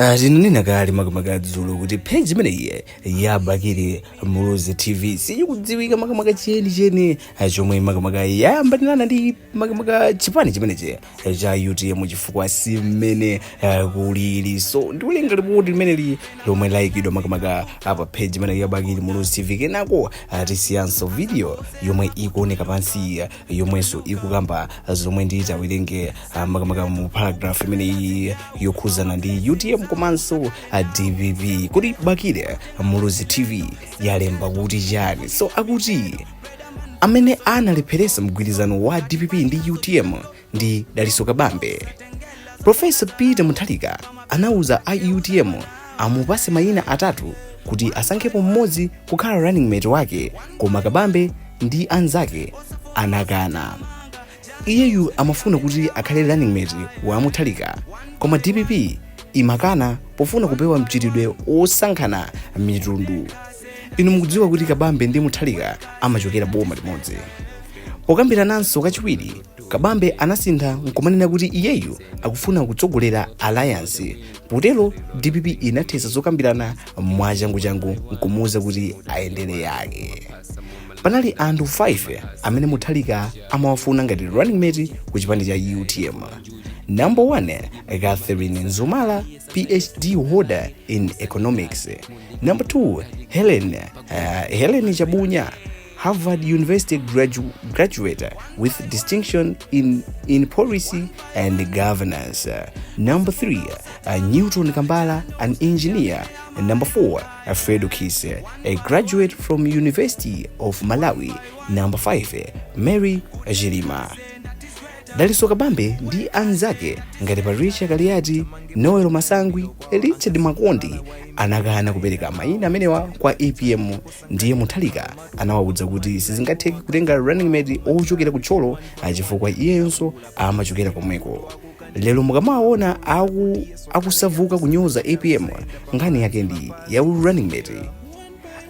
Ah, tinanena kale makamaka dzulo kuti page imeneyi ya bakili muluzi tv siyikudziwika makamaka cheni cheni ah, chomwe makamaka yayambanirana ndi makamaka chipani chimenechi eh, cha utm chifukwa si mmene ah, kulili so ndikulinga lipoti limeneli lomwe layikidwa makamaka apa page imeneyi ya bakili muluzi tv kenako ah, tisiyenso video yomwe ikuoneka pansi ah, yomwenso ikukamba zomwe nditawerenge ah, makamaka mu paragraph imene iyi yokhuzana ndi utm komanso ah, dpp kodi bakili muluzi tv yalemba kuti chani so akuti amene analepheresa mgwirizano wa dpp ndi utm ndi dalitso kabambe profesa peter mutharika anauza a utm amupatse mayina atatu kuti asankhepo mmodzi kukhala running mate wake koma kabambe ndi anzake anakana iyeyu amafuna kuti akhale running mate wa mutharika koma dpp imakana pofuna kupewa mchitidwe wosankhana mitundu inu mukudziwa kuti kabambe ndi mutharika amachokera boma limodzi pokambirananso kachiwiri kabambe anasintha nkumanena kuti iyeyu akufuna kutsogolera alliance potero dpp inathetsa zokambirana mwachanguchangu nkumuwuza kuti ayendere yake panali anthu 5 amene mutharika amawafuna ngati running mate ku chipani cha utm number 1 catherine mzumara phd holder in economics number 2 helen uh, helen chabunya Harvard University gradu- graduate with distinction in, in policy and governance. Uh, number three, uh, Newton Kambala, an engineer. And number four, uh, Fredo Kiss, uh, a graduate from University of Malawi. Number five, uh, Mary Jirima. daliso kabambe ndi anzake ngati patricia kaliati noel masangwi richard makondi anakana kupereka mayina amenewa kwa apm ndiye mutharika anawawuza kuti sizingatheke kutenga running mate ochokera ku thyolo chifukwa iyenso amachokera komweko lero mukamawaona aku akusauka kunyoza apm nkhani yake ndi ya running mate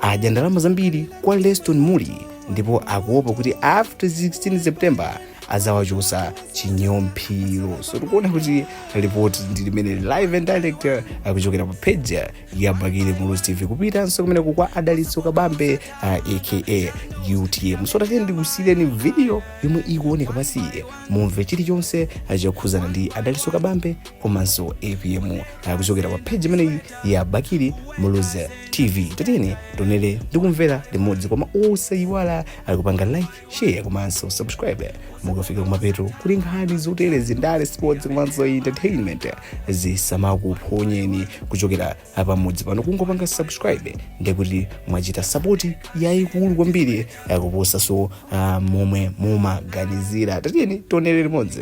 adya ndalama zambiri kwa leston mulli ndipo akuopa kuti after 16 september azawachosa chinyomphiro so tikuona kuti ripoti ndi limeneli live and direct kuchokera pa page ya bakili muluzi tv kupitanso kumeneko kwa a dalitso kabambe uh, a utm so tatiyeni ndikusiyireni video yomwe ikuoneka pansiyi mumve chilichonse uh, chokhuzana ndi a dalitso kabambe komanso apm uh, kuchokera pa page imeneyi ya bakili muluzi tv tatiyeni tionere ndikumvera limodzi koma osayiwala uh, kupanga like share komanso subscribe mukafika kumapeto kuti nkhani zoterezi ndale sports komanso entertainment zisamakuphonyeni kuchokera pamudzi pano kungopanga subscribe ndekuti mwachita sapoti yayikulu kwambiri kuposanso uh, momwe mumaganizira tatiyeni tionere limodzi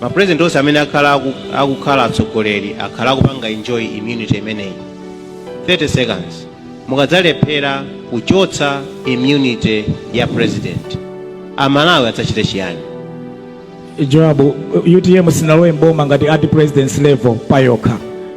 Ma president onse amene akhala aku, akukhala atsogoleri akhala akupanga enjoy immunity imeneyi 30 seconds mukadzalephera kuchotsa immunity ya president amalawi adzachite chiyani jawabu UTM sinalowe mboma ngati at presidents level payokha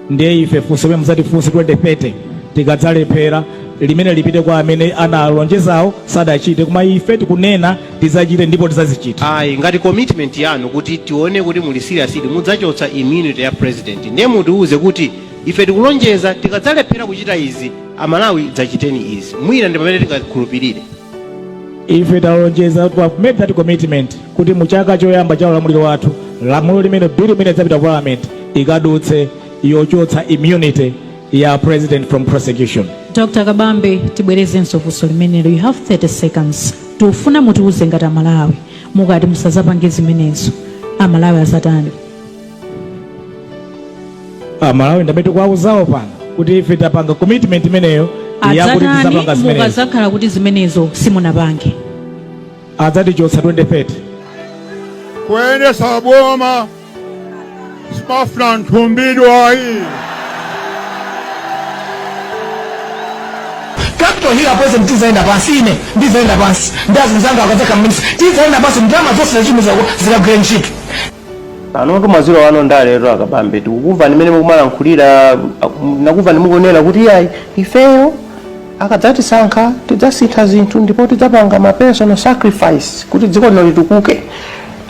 ndiye ife funso limene muzatifunse 2030 tikadzalephera limene lipite kwa amene analonjezawo sadachite koma ife tikunena tidzachite ndipo tidzazichita Ayi ngati commitment yanu kuti tione kuti muli serious ili mudzachotsa immunity ya president ndiye mutiuze kuti ife tikulonjeza tikadzalephera kuchita izi amalawi dzachiteni izi mwina ndi pamene tingakhulupirire ife talonjeza we have made that commitment kuti mu chaka choyamba cha ulamuliro wathu lamulo limene bill imene idzapita ku parliament ikadutse yochotsa immunity ya president from prosecution Dr. Kabambe, tibwerezenso funso limenelo. You have 30 seconds. Tikufuna mutiuze ngati a Malawi mukati musazapange zimenezo a Malawi azatani? A Malawi ndamene tikuwauzawo pano kuti ife tapanga commitment imeneyo yakuti tizapanga zimenezo. Mukazakhala kuti zimenezo simunapange. Adzatichotsa 2030. Kuyendesa boma. Zimafuna nthumbidwa ayi. Capital Hill apwezeke tizaenda pansi ine ndizaenda pansi ndi azinzanga akadzakhala ma minister tizaenda pansi ndalama zonse zachimizako zikagwire ntchito a Kabambe tikukumvani mmene mukumalankhulira takumvani mukunena kuti ayi ifeyo akadzatisankha tidzasintha zinthu ndipo tidzapanga ma personal sacrifice kuti dziko lino litukuke